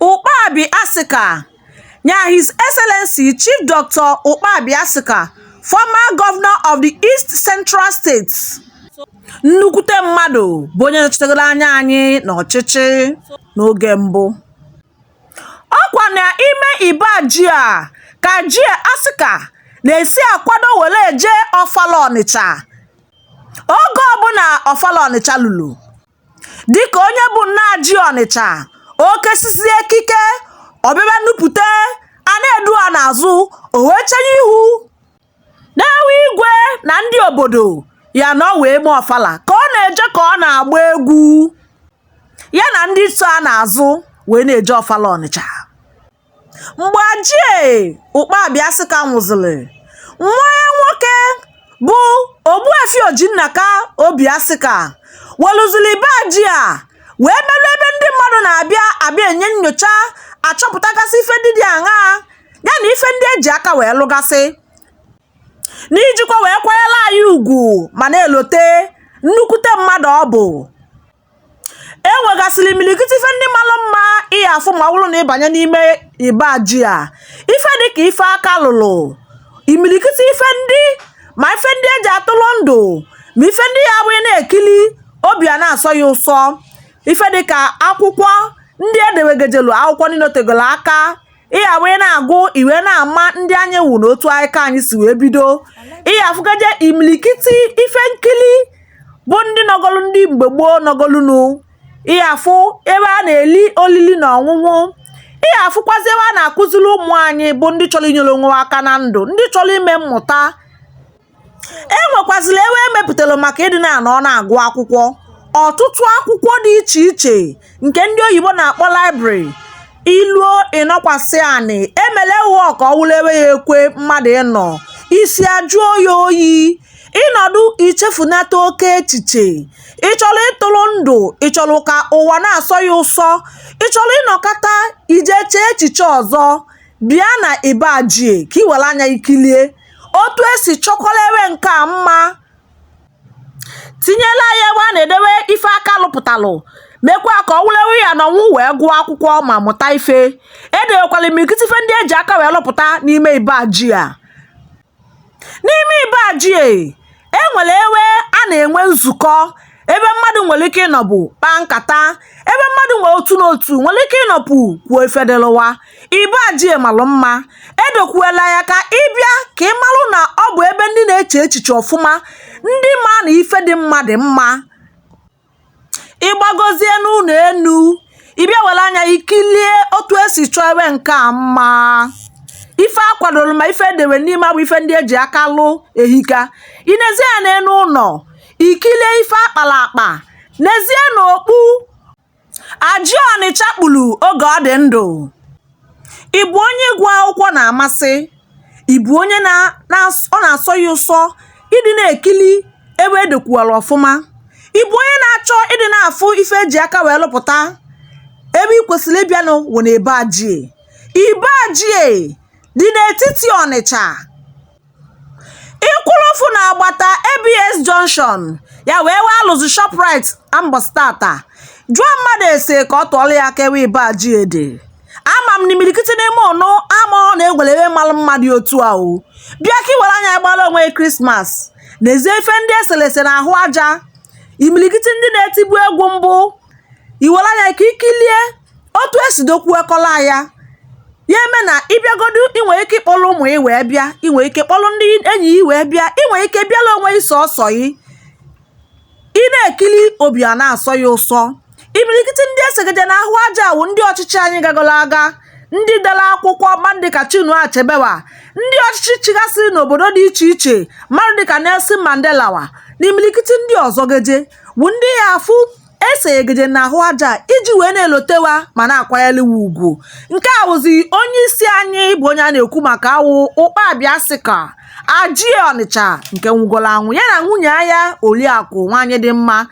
Ukpabi Asika ya His Excellency Chief Dr. Ukpabi Asika, former governor of the East Central States, nnukwute mmadụ bụ onye nọchitegoro anya anyị n'ọchịchị n'oge mbụ. Ọkwa na ime Iba Ajie a ka Ajie Asika na-esi akwado were eje Ọfala Ọnịcha oge ọbụla Ọfala Ọnịcha lulu. dịka onye bụ nna Ajie Ọnịcha o kesisie ekike ọbịbịa nupụta a na-edu ha n'azụ o wee chenye ihu n'ewe Igwe na ndị obodo ya nọ wee mee ọfala ka ọ na-eje ka ọ na-agba egwu ya na ndị so ya n'azụ wee na-eje ọfala Ọnịcha mgbe Ajie Ukpabi Asika nwụzịrị, nwa ya nwoke bụ Ogbuefi Ojinnaka Obi Asika weluzili Iba Ajie a wee melụ ebe ndị mmadụ na-abịa abịa enye nyocha achọpụtagasị ife ndị dị aṅaa ya na ife ndị eji aka wee lụgasị n'ijikwa wee kwanyela ya ugwu ma na-elote nnukwute mmadụ ọ bụ e nwegasịrị imilikiti ife ndị malụ mma ị ya afụ ma ọ wụrụ na ị banye n'ime Iba Ajie a ife dịka ife aka lụlụ imilikiti ife ndị ma ife ndị eji atụrụ ndụ ma ife ndị ya awụ ị na-ekili obi a na-asọ ya ụsọ ife dịka akwụkwọ ndị edewegejelu akwụkwọ ndị nọtegolo aka ị ya awụ ị na-agụ ị wee na-ama ndị anyị wụ na otu anyị ka anyị si wee bido ị ya afụgaje imilikiti ife nkili bụ ndị nọgọlụ ndị mgbe gboo nọgọlụnu ị ya afụ ebe a na-eli olili na ọṅụṅụ ị ya afụkwazi ebe a na-akụziri ụmụ anyị bụ ndị chọrọ inyere onwe ha aka na ndụ ndị chọrọ ime mmụta e nwekwazịrị ebe e mepụtara maka ịdị na-anọ na-agụ akwụkwọ ọtụtụ akwụkwọ dị iche iche nke ndị oyibo na-akpọ library i luo ị nọkwasị anị emele ewe a ka ọ wụlụ ebe ya ekwe mmadụ ịnọ isi ajụọ ya oyi ị nọdụ i chefunata oke echiche ị chọrọ ịtụrụ ndụ ị chọrọ ka ụwa na-asọ ya ụsọ ị chọrọ ịnọkata ije chee echiche ọzọ bịa na Iba Ajie ka ị were anya kilie otu esi chọkwara ebe nke a mma tinyela ya ebe a na-edewe ife aka lụpụtalụ mekwa ka ọ wụlụ ewe a ya anọnwu wee gụọ akwụkwọ ma mụta ife edewekwala imilikiti ife ndị eji aka wee lụpụta n'ime Iba Ajie a n'ime Iba Ajie e nwere ewe a na-enwe nzukọ ebe mmadụ nwere ike ịnọpụ kpaa nkata ebe mmadụ nwere otu n'otu nwere ike ịnọpụ kwuo ife dịlụ wa Iba Ajie malụ mma edokwuela ya ka ị bịa ka ị malụ na ọ bụ ebe ndị na-eche echiche ọfụma ndị ma na ife dị mma dị mma ị gbagozie n'ụnọ enu ị bịa were anya ikilie otu esi chọọ ebe nke a mma ife a kwadoro ma ife edere n'ime a bụ ife ndị eji aka lụ ehika ị nezie ya n'enu ụnọ ikilie ife akpara akpa nezie n'okpu Ajie Ọnịcha kpuru oge ọ dị ndụ Ị bụ onye ịgụ akwụkwọ na-amasị? Ị bụ onye ọ na-asọ ya ụsọ ịdị na-ekili ebe e dokwuwara ọfụma? Ị bụ onye na-achọ ịdị na-afụ ife e ji aka wee lụpụta? Ebe ị kwesịrị ịbịanụ wụ na Iba Ajie. Iba Ajie dị n'etiti Ọnịcha. Ị kwụlụfụ n'agbata ABS junction ya wụ ebe alụzi Shoprite mbọsị tata jụọ mmadụ ese ka ọ tụọlụ ya aka ebe Iba Ajie dị ama m na imilikiti n'ime ụnụ amaghọ na enwere ebe malụ mmadụ otu a o bịa ka iwere anya gbara onwe gị krismas nezie ife ndị eselese na ahụ aja imilikiti ndị na-etibu egwu mbụ iwere anya ka ikilie otu esi dokwue kọla ya ya eme na ị bịagodu ị nwee ike ịkpọrọ ụmụ ị wee bịa ị nwee ike kpọrọ ndị enyi ị wee bịa ị nwee ike bịala onwe ị sọsọ ị ị na-ekili obi a na-asọ ya ụsọ imilikiti ndị esegeje na ahụ aja wụ ndị ọchịchị anyị gagoro aga ndị dere akwụkwọ mmadụ dịka Chinua Achebe wa ndị ọchịchị chịgasịrị n'obodo dị iche iche mmadụ dịka Nelson Mandela wa na imilikiti ndị ọzọ geje wụ ndị ị ya-afụ esegeje n'ahụ aja iji wee na-elote wa ma na-akwanyele wa ugwu nke a wụzi onye isi anyị bụ onye a na-ekwu maka ya wụ Ukpabi Asika Ajie Ọnịcha nke nwụgoro anwụ ya na nwunye ya oriakụ nwaanyị dị mma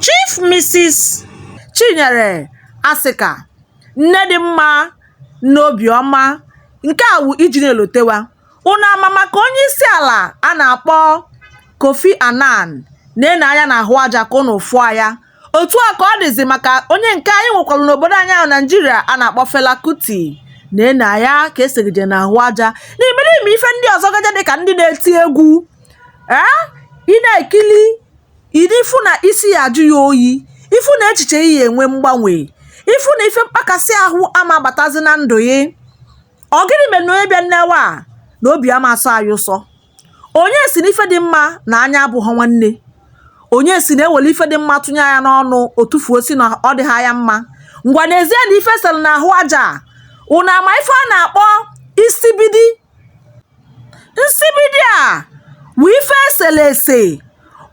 chief mrs Chinyere Asika nne dị mma n'obiọma nke a wụ iji na-elote wa Unu ama maka onyeisiala a na-akpọ Kofi Annan na-ene anya n'ahụ aja ka ụnụ fụọ ya otu a ka ọ dịzi maka onye nke anyị nwekwara n'obodo anyị a wụ Naijiria a na-akpọ Fela Kuti na-ene anya ka esegeje n'ahụ aja na imerime ife ndị ọzọ geje dị ka ndị na-eti egwu ee ị na-ekili ịdị ị fụ na isi ya ajụ ya oyi ị fụ na echiche ị enwe mgbanwe ị fụ na ife mkpakasị ahụ ama abatazi na ndụ ị ọ gịnị mere na onye bịa n'ebe a na obi ama asọ ya ụsọ onye si na ife dị mma na anya abụghọ nwanne onye si na ewere ife dị mma tụnye ya n'ọnụ o tufuo si na ọ dịghị ya mma ngwa nezie na ife e sere na ahụ aja a unu ama ife a na-akpọ nsibidi nsibidi a wụ ife esere ese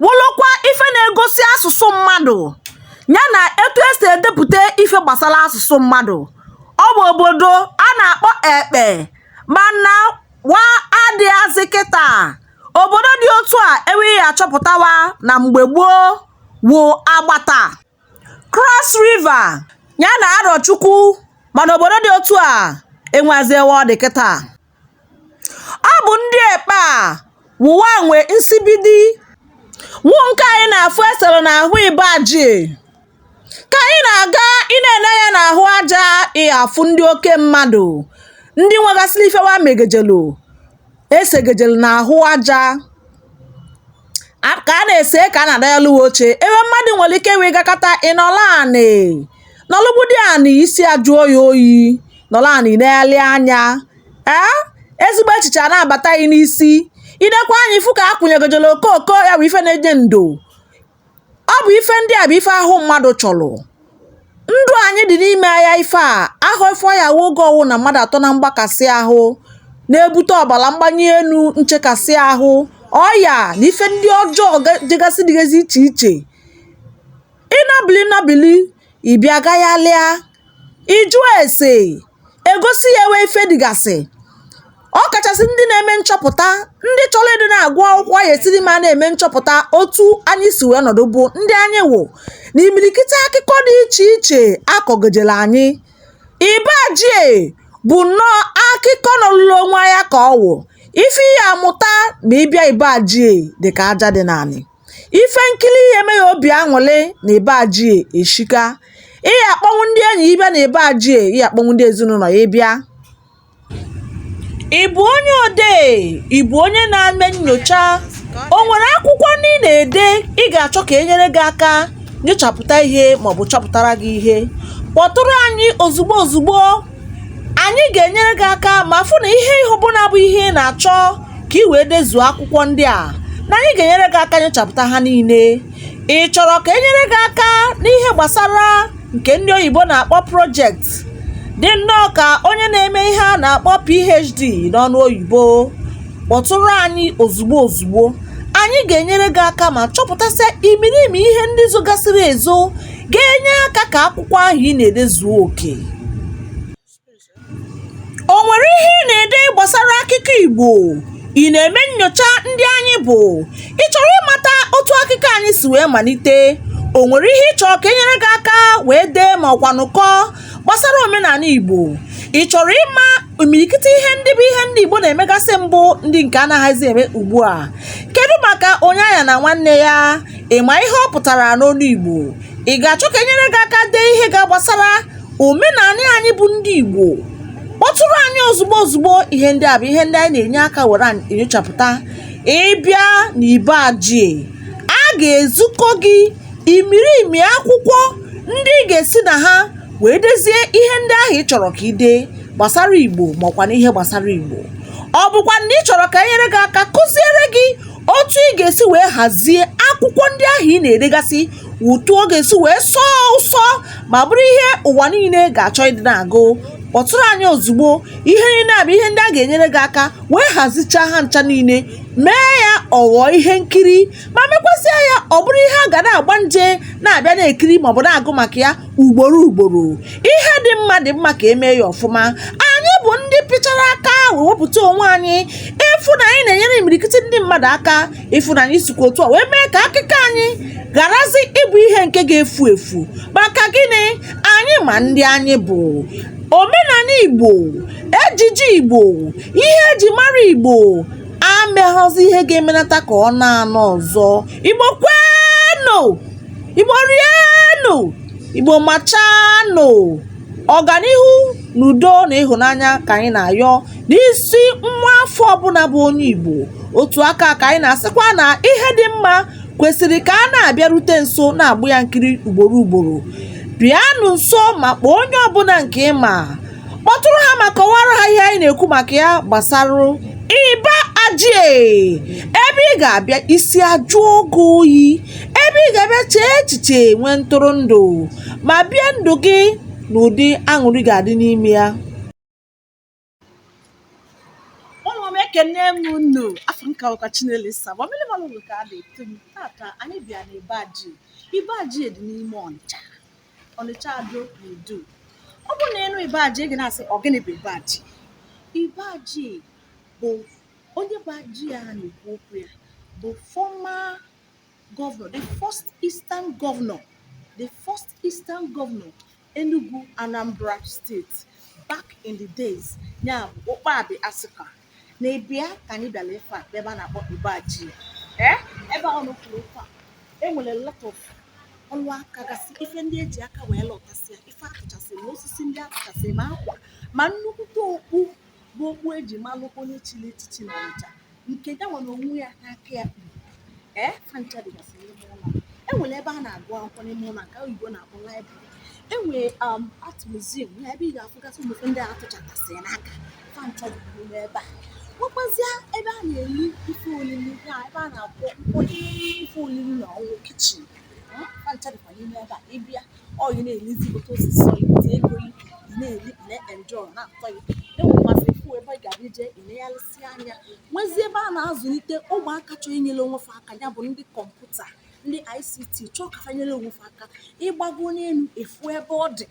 wụlụkwa ife na-egosi asụsụ mmadụ ya na etu esi edepụta ife gbasara asụsụ mmadụ ọ bụ obodo a na-akpọ ekpe mana wa adịghazị kịta obodo dị otu a ewe ị ya achọpụta wa na mgbe gboo wụ agbata cross river ya na arọchukwu mana obodo dị otu a enwezi ewe ọ dị kịta Ọ bụ ndị ekpe a wụ wa nwe nsibidi wụ nke anyị na-afụ esere n'ahụ Iba Ajie ka anyị na-aga ị na-ene anya n'ahụ aja ị ya afụ ndị oke mmadụ ndị nwegasịrị ife wa megejelu esegejelu n'ahụ aja A- ka a na-ese ka a na-ada ya lụwa oche ebe mmadụ nwere ike wee gakata ị nọlụ anị nọlụgbudi anị isi ajụọ ya oyi nọlụ anị na-ele anya ee ezigbo echiche a na-abata gị n'isi ị nekwa anya ị fụ ka a kwụnyegojere okooko ya bụ ife na-enye ndo Ọ bụ ife ndị a bụ ife ahụ mmadụ chọrọ. Ndụ anyị dị n'ime ya ife a ahụ ife ọ ya wụ oge ọwụna mmadụ atọ na mgbakasị ahụ na-ebute ọbara mgbanye enu nchekasị ahụ ọya na ife ndị ọjọọ dịgasị dịgasị iche iche ị nọbili nọbili ị bịa gaghalịa ị jụọ ese egosi ya ewe ife dịgasị ọ kachasị ndị na-eme nchọpụta ndị chọrọ ịdị na-agụ akwụkwọ ya esiri ma na-eme nchọpụta otu anyị si wee nọdụ bụ ndị anyị wụ na imirikiti akụkọ dị iche iche akọgejere anyị iba ajie bụ nnọọ akụkọ nọlụlụ onwe ya ka ọ wụ ife ị ya amụta ma ị bịa iba ajie dị ka aja dị n'anị Ife nkiri ihe eme ya obi aṅụrị na Iba Ajie Asika. Ị ya akpọnwu ndị enyi gị bịa na Iba Ajie ị ya akpọnwu ndị ezinụlọ gị bịa. Ị bụ onye odee, ị bụ onye na-eme nnyocha, o nwere akwụkwọ ndị ị na-ede ị ga-achọ ka e nyere gị aka nyochapụta ihe maọbụ chọpụtara gị ihe, kpọtụrụ anyị ozugbo ozugbo. anyị ga-enyere gị aka ma fụ na ihe ihe ọbụna bụ ihe ị na-achọ ka ị wee dezuo akwụkwọ ndị a na anyị ga-enyere gị aka nyochapụta ha niile ị chọrọ ka enyere gị aka n'ihe gbasara nke ndị oyibo na-akpọ project dị nnọọ ka onye na-eme ihe a na-akpọ phd n'ọnụ oyibo kpọtụrụ anyị ozugbo ozugbo anyị ga-enyere gị aka ma chọpụtasịa imirimi ihe ndị zogasịrị ezo ga-enye aka ka akwụkwọ ahụ ị na-ede zuo oke o nwere ihe ị na-ede gbasara akụkọ Igbo ị na-eme nyocha ndị anyị bụ ị chọrọ ịmata otu akụkọ anyị si wee malite o nwere ihe ị chọrọ ka e nyere gị aka wee dee ma ọkwanụ kọọ gbasara omenanị Igbo ị chọrọ ịma imirikiti ihe ndị bụ ihe ndị Igbo na-emegasịbu ndị nke a naghịzi eme ugbu a kedu maka onye aghana nwanne ya Ị ma ihe ọ pụtara n'olu Igbo? Ị ga-achọ ka enyere gị aka dee ihe ga gbasara omenanị anyị bụ ndị Igbo? Kpọtụrụ anyị ozugbo ozugbo ihe ndị a bụ ihe ndị anyị na-enye aka were enyochapụta. Ị bịa n'Iba Ajie, a ga-ezukọ gị imirimi akwụkwọ ndị ị ga-esi na ha wee dezie ihe ndị ahụ ị chọrọ ka ị dee gbasara Igbo maọkwanụ ihe gbasara Igbo. Ọ bụkwanụ na ị chọrọ ka enyere gị aka kụziere gị otu ị ga-esi wee hazie akwụkwọ ndị ahụ ị na-edegasị otu ọ ga-esi wee sọọ ụsọ ma bụrụ ihe ụwa niile ga-achọ ịdị na-agụ kpọtụrụ anyị ozugbo ihe niile a bụ ihe ndị a ga-enyere gị aka wee hazichaa ha ncha niile mee ya ọ ghọọ ihe nkiri ma mekwasịa ya ọ bụrụ ihe a ga na-agba nje na-abịa na-ekiri maọbụ na-agụ maka ya ugboro ugboro ihe dị mma dị mma ka e mee ya ọfụma anyị bụ ndị pịchara aka wee wepụta onwe anyị ịfụ na anyị na-enyere imirikiti ndị mmadụ aka ịfụ na anyị sikwa otu a wee mee ka akụkọ anyị gharazi ịbụ ihe nke ga-efu efu maka gịnị anyị ma ndị anyị bụ omenanị igbo ejiji igbo ihe e ji mara igbo enweghịzi ihe ga-emenata ka ọ na-anọ ọzọ igbo kwenu igbo rienụ igbo machanụ ọganihu na udo na ịhụnanya ka anyị na-ayọ n'isi nwa afọ ọbụna bụ onye igbo otu aka ka anyị na-asịkwa na ihe dị mma kwesịrị ka a na-abịarute nso na-agba ya nkiri ugboro ugboro bịanụ nso ma kpọọ onye ọbụna nke ị ma kpọtụrụ ha ma kọwara ha ihe anyị na-ekwu maka ya gbasara iba ajie ebe ị ga-abịa isi ajụọ gị oyi ebe ị ga-abịa chee echiche nwee ntụrụndụ ma bie ndụ gị n'ụdị aṅụrị ga-adị n'ime ya ụmụ m ekene m unu afa m ka bụkwa chinelo saba mmiri malụ ugo ka a na-etu m tata anyị bịa na iba ajie iba ajie dị n'ime ọnịcha Ọnịcha Ado n'Idu ọ bụrụ na ị nụ Iba Ajie ị ga na-asị ọ gịnị bụ Iba Ajie Iba Ajie bụ onye bụ Ajie a na-ekwu okwu ya bụ former governor the first eastern governor the first eastern governor Enugu Anambra State back in the days ya bụ Ụkpabi Asika na ịbịa ka anyị bịara ife a ebe a na-akpọ iba ajie ebe a nọ kwuru okwu a enwere lot of ọlụ aka gasị ife ndị eji aka wee lụtasịa ife atụchasị ma osisi ndị atụchasị ma akwa ma nnukwute okpu bụ okpu eji malụ onye chiri echichi na ọnịcha nke ya nwere onwe ya n'aka ya kpuru ee eh? fa ncha dịgasị n'ime ụlọ enwere ebe a na-agụ akwụkwọ n'ime ụlọ nke oyibo na-akpọ library enwere um, art museum na ebe ị ga-afụgasị ụmụ ife ndị atụchatasị n'aka fa ncha dịkwa n'ime ebe a nwekwazịa ebe a na-eri ife olili ya ebe a na-akwọ ife olili na ọ bụ kitchen fa ncha dịkwa n'ime ebe a ịbịa ọ gị na-elizi otu o si sọ gị otu ego gị ị na-eli ị na-enjoy na-atọ gị enwekwazị ifu ebe ị ga-abịa jee ilegharịsị anya nwezie ebe a na-azụlite ụmụaka chọọ inyere onwe fa aka ya bụ ndị kọmputa ndị ICT chọọ ka fanyere onwe fa aka ịgbago n'elu efu ebe ọ dị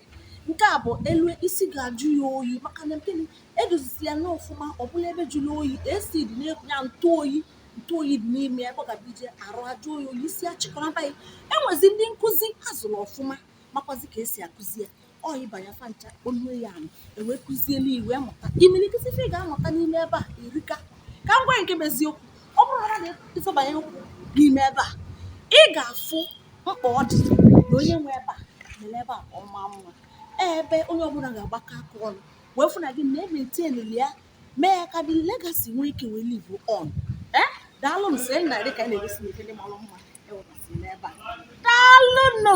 nke a bụ elu isi ga-ajụ ya oyi maka na gịnị edozisia ya n'ọfụma ọ bụla ebe jụrụ oyi AC dị na-ekwu ya ntụ oyi ntụ oyi dị n'ime ebe ị ga-abịa ije arụ ajụ oyi oyi isi achịkọrọba ya enwezi ndị nkụzi azụrụ ọfụma makwazi ka esi akụzi ya ọ ịba ya fa ncha kpọnue ya anụ ewee kụzielu i wee mụta imirikiti ife ị ga-amụta n'ime ebe a erika ka m gwa nke bụ eziokwu ọ bụrụ na mmadụ ịzọbanye ụkwụ n'ime ebe a ị ga-afụ mkpa ọ dị na onye nwe ebe a mere ebe a ka ọ maa mma ebe onye ọbụla ga-agbakọ aka ọnụ wee fụ na anyị na-emaintainili ya mee ya ka ọ dị legacy nwee ike wee live on ee daalụ m sị na dị ka a na-egosi m ife ndị mara mma ewepụsị n'ebe a daalụ nụ